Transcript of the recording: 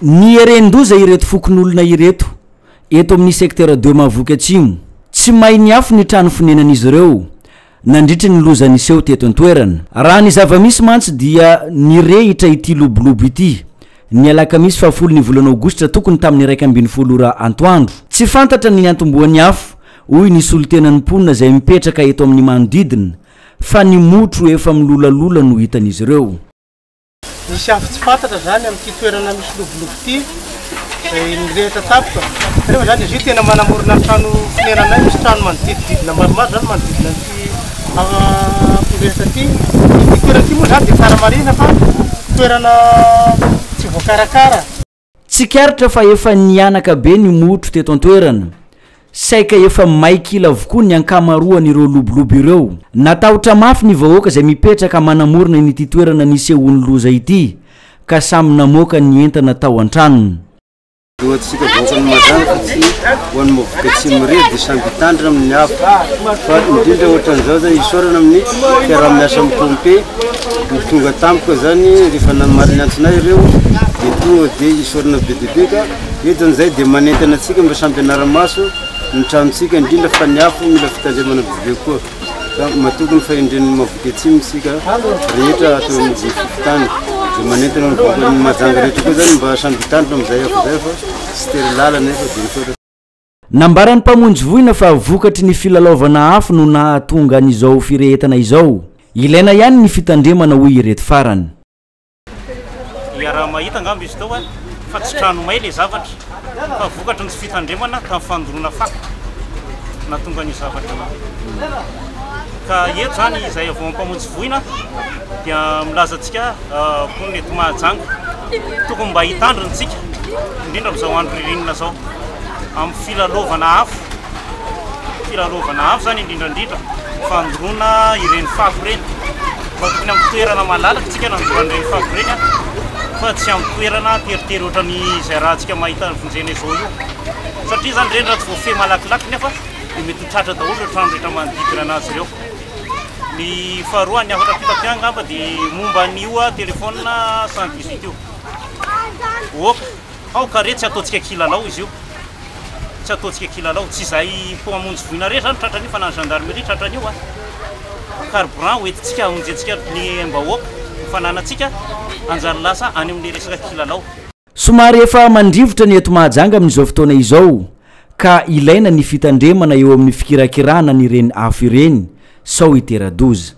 Nieren-doza ireto fokonolona ireto eto amin'ny Secteur deux Mahavoky Atsimo. Tsy may niafo ny trano fonenan'izy ireo nandritry ny loza niseho teto an-toerana. Raha ny zava-misy mantsy dia nirehitra ity lobolobo ity, ny alakamisy fahafolo ny volana aogositra tokony tamin'ny iraika ambin'ny folo ora antoandro. Tsy fantatra ny niantombohan'ny afo, hoy ny solontenan'ny mponina izay mipetraka eto amin'ny manodidina, fa ny motro efa milolalola no hitan'izy ireo. Nisy afo tsy fantatra izany amin'ity toerana misy lobolobo ity izay nirehitra tampoka. Kanefa izany izy io tena manamorona ny trano fonenanay. Misy trano manodidididina maromaro izany manodidina an'ity afo nirehitra ity. Ity toerana ity moa izany dia tsara marihina fa toerana tsy voakarakara. Tsikaritra fa efa nihanaka be ny motro teto an-toerana, saika efa may kila avokoa ny ankamaroan'ireo lobolobo ireo. Natahotra mafy ny vahoaka izay mipetraka manamorona an'ity toerana nisehoan'ny loza ity ka samy namoaka ny entana tao an-tranony. Hoantsika vahoakan'i Majanaka sy ho an'ny Maovoka Atsimo irery dia samy hitandrina amin'ny afo fa indrindra ohatran'izao izany isaorana amin'ny fiaraha-miasa amin'ny pompe, Ny tonga tampoka zany rehefa namaly ny antsinay ireo dia tonga dia hisorona be dia be ka eto amin'izay dia manentana antsika mba samy hanara-maso ny tranontsika indrindra fa ny afo mila fitandremana be be koa ka matoky ny fahendren'ny Mahaboke Atsimo isika rehetra ato amin'ny fokontany dia manentana ny vahoakan'i Mahajanga rehetra koa zany mba samy hitandrina amin'izay afo izay fa tsy tery lalana eto dia misaotra. Nambaran'ny mpamonjy voina fa vokatry ny filalaovana afo no nahatonga an'izao firehetana izao. Ilaina ihany ny fitandremana hoy ireto farany. Iaraha-mahita angamba izy teo fa tsy trano may ilay zavatra fa vokatry ny tsy fitandremana tamin'ny fandoroana fako no nahatonga an'io zavatra io. Ka eto izany izay vao mpamonjy voina dia milaza antsika mponina eto Mahajanga, tokony mba hitandrina isika indrindra amin'izao andro ririnina izao amin'ny filalaovana afo, filalaovana afo izany indrindra indrindra fandoroana ireny fako ireny, fa tokony amin'ny toerana malalaka isika nandoroana ireny fako ireny fa tsy amin'ny toerana teritery ohatran'ny izay raha antsika mahita vonjena izao io, satria izany ireny raha tsy voafehy malakilaky nefa dia mety ho tratra daholo ireo trano rehetra manodidina anazy ireo. Ny faharoa, ny hafatra fito aty angamba dia momba an'io telefaonina 118 io. Oka, ao kare tsy ataontsika kilalao izy io. Tsy ataontsika kilalao, tsy izay mpo hamonjy voina rehetra izany tratran'io fa na ny gendarmerie tratran'io a. Carburant hoentintsika hamonjentsika ny mbahoaka, ny fananantsika hanjary lasa any amin'ny resaka kilalao. Somary efa mandrivotra ny eto Mahajanga amin'izao fotoana izao ka ilaina ny fitandremana eo amin'ny fikirakirana an'ireny afo ireny sao hitera-doza.